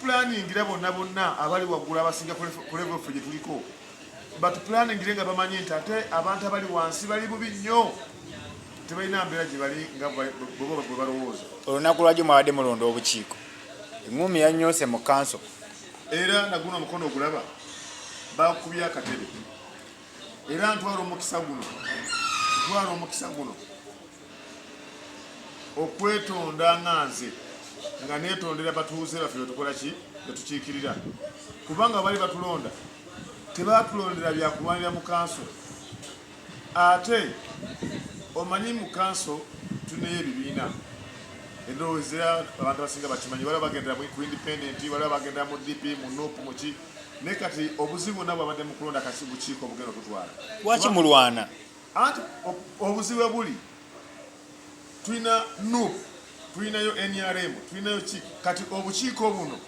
tupulaningira bonna bonna abali waggulu abasinga kulevo ffe gye tuliko batupulaningire nga bamanyi nti ate abantu abali wansi bali bubi nnyo tebalina mbeera gye bali nga bwe balowooza olunaku lwagyo mwabadde mulonda obukiiko eŋumi yanyonse mu kanso era naguno omukono ogulaba bakubya akatebe era ntwala omukisa guno ntwala omukisa guno okwetonda nga nze nga netondera batuuze baffe betukola ki betukiikirira kubanga bali batulonda tebatulondera byakulwanira mu kanso ate omanyi mu kanso tuneyo ebibiina endowooza abantu abasinga bakimanyi waliwo bagendera ku independent waliwo bagendera mu dp mu nup muki naye kati obuzibu nabwe abadde mu kulonda kasi bukiiko obugenda okutwala lwaki mulwana Anti obuzibu webuli tulina nup tulinayo nrm tulinayo ki kati obukiiko buno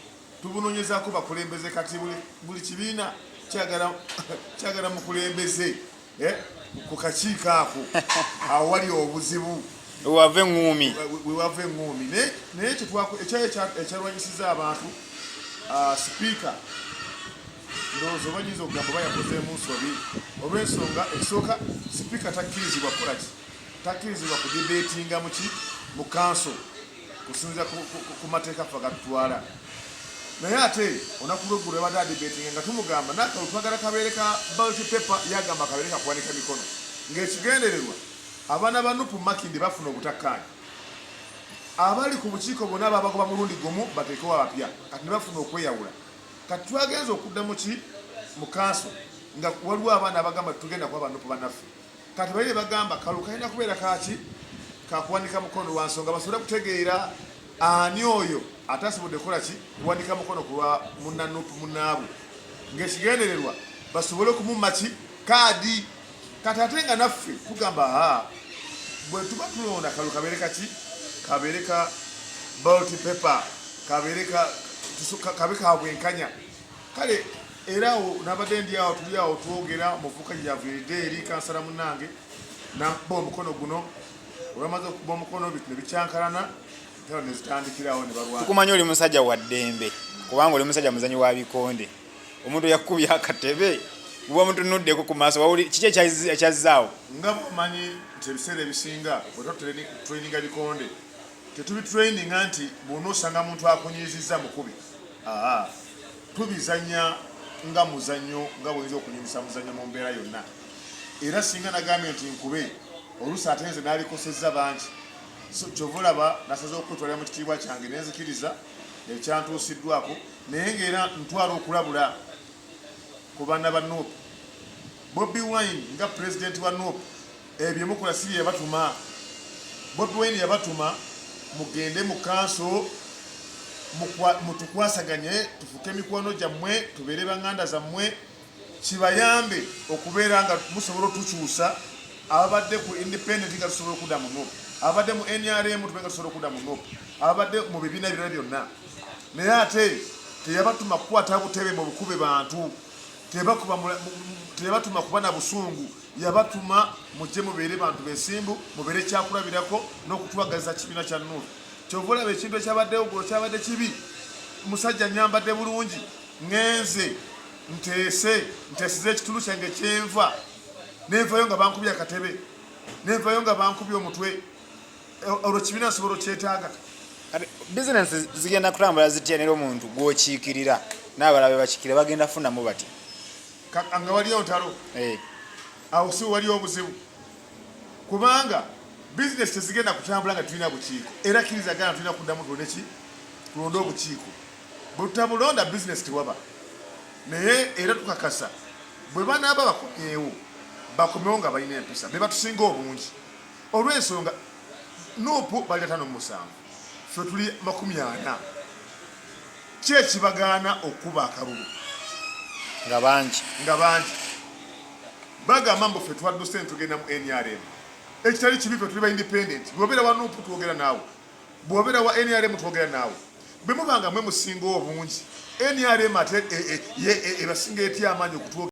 tubunonyezako bakulembeze kati buli kibiina kyagala mukulembeze eh, ku kakiiko ako awo wali obuzibu wewava eŋumi wewava eŋumi naye ekyayo ekyalwanyisiza abantu ah, sipiika ndowooza oba nyinza okugamba oba yakozeemu nsobi olw'ensonga ekisooka sipiika takkirizibwa kukola ki takkirizibwa ku dibeetinga muki mu kanso kusinzira ku mateeka ffe gatutwala naye ate olunaku lweggulu yabadde adibeetinga nga tumugamba nakalu twagala kabeere ka balti paper yagamba kabeere kakuwanika mikono ng'ekigendererwa abaana ba nupu makindi bafuna obutakkaanya abali ku bukiiko bonna ababagoba mulundi gumu bateekewo abapya kati ne bafuna okweyawula kati twagenze okudda muki mukanso nga waliwo abaana abagamba tugenda kuba banupu banaffe kati baire bagamba kalu kalina kubeera kaki kakuwanika mukono lwa nsonga basobole kutegeera ani oyo ate asobodde kukola ki kuwanika mukono kulwa munanupu munaabwe ngaekigendererwa basobole okumumaki kaadi kati ate nga naffe tugamba aa bwe tuba tulonda kalu kabeere kaki kabeere ka balti paper kabeere kabe ka bwenkanya kale era awo nabadde ndi awo tuli awo twogera muvuka yaviride eri kansala munange nakuba omukono guno olwamaze okuba omukono bitu nebikyankalana tera nezitandikirawo nebalwatukumanya oli musajja wa ddembe kubanga oli musajja muzanyi wa bikonde omuntu yakubye akatebe uba mutunuddeko ku maaso wawuli kiki ekyazzaawo nga mumanyi nti ebiseera ebisinga wetatutraininga bikonde tetubitraininga nti bwona osanga muntu akunyiizizza mukubi aa tubizanya nga muzanyo nga bwoyinza okunyumisa muzanyo mu mbeera yonna era singa nagambye nti nkube oluusi ate nze nalikosezza bangi kyova olaba nasaza okutwalira mu kitiibwa kyange nenzikiriza ekyantuusiddwako Naye nga era ntwala okulabula ku baana ba Nup. Bobi Wine nga Pulezidenti wa Nup ebyo bye mukola si bye yabatuma. Bobi Wine yabatuma mugende mu kanso mutukwasaganye tufuke mikwano gyammwe tubeere banganda zammwe. kibayambe okubeera nga musobola otukyusa ababadde ku independent nga tusobola okuda mu nup ababadde mu nrm tube nga tusobola okuda mu nup ababadde mu bibiina ebirala byonna naye ate teyabatuma kukwata butebe mu bukube bantu teyabatuma kuba na busungu yabatuma mujje mubeere bantu besimbu mubeere kyakulabirako n'okutwagaliza kibiina kya nup kyova olaba ekintu ekyabaddewo gulo kyabadde kibi musajja nyambadde bulungi ngenze nteese nteesiza ekitulu kyange kyenva nenvayo nga bankubye akatebe nenvayo nga bankubye omutwe eh, olwo kibiina nsobola okyetaaga bizinesi zigenda kutambula zitya nera omuntu gwokiikirira n'abalala bebakikira bagenda funamu bati nga waliyo ntalo eh. awo si waliyo obuzibu kubanga bizinesi tezigenda kutambula nga tulina bukiiko era kirizagana tulina kuddamu tulonde ki tulonde obukiiko Bwetutabulonda business tewaba naye era tukakasa bwebanaaba bakomyewo bakomewo nga balina empisa bebatusinga obungi olwensonga nupu bali atano mumusanvu fe tuli makumi ana ki ekibagaana okukuba akalulu nga bangi nga bangi bagamba mbu fe twadduse netugenda mu nrm ekitali kibi fe tuli ba independent bwobeera wa nupu twogera naawe Bwobera wa nrm twogera naawe bwemuba nga mwe musinga obungi nrm ate ebasinga etya amaanyi okutwogera.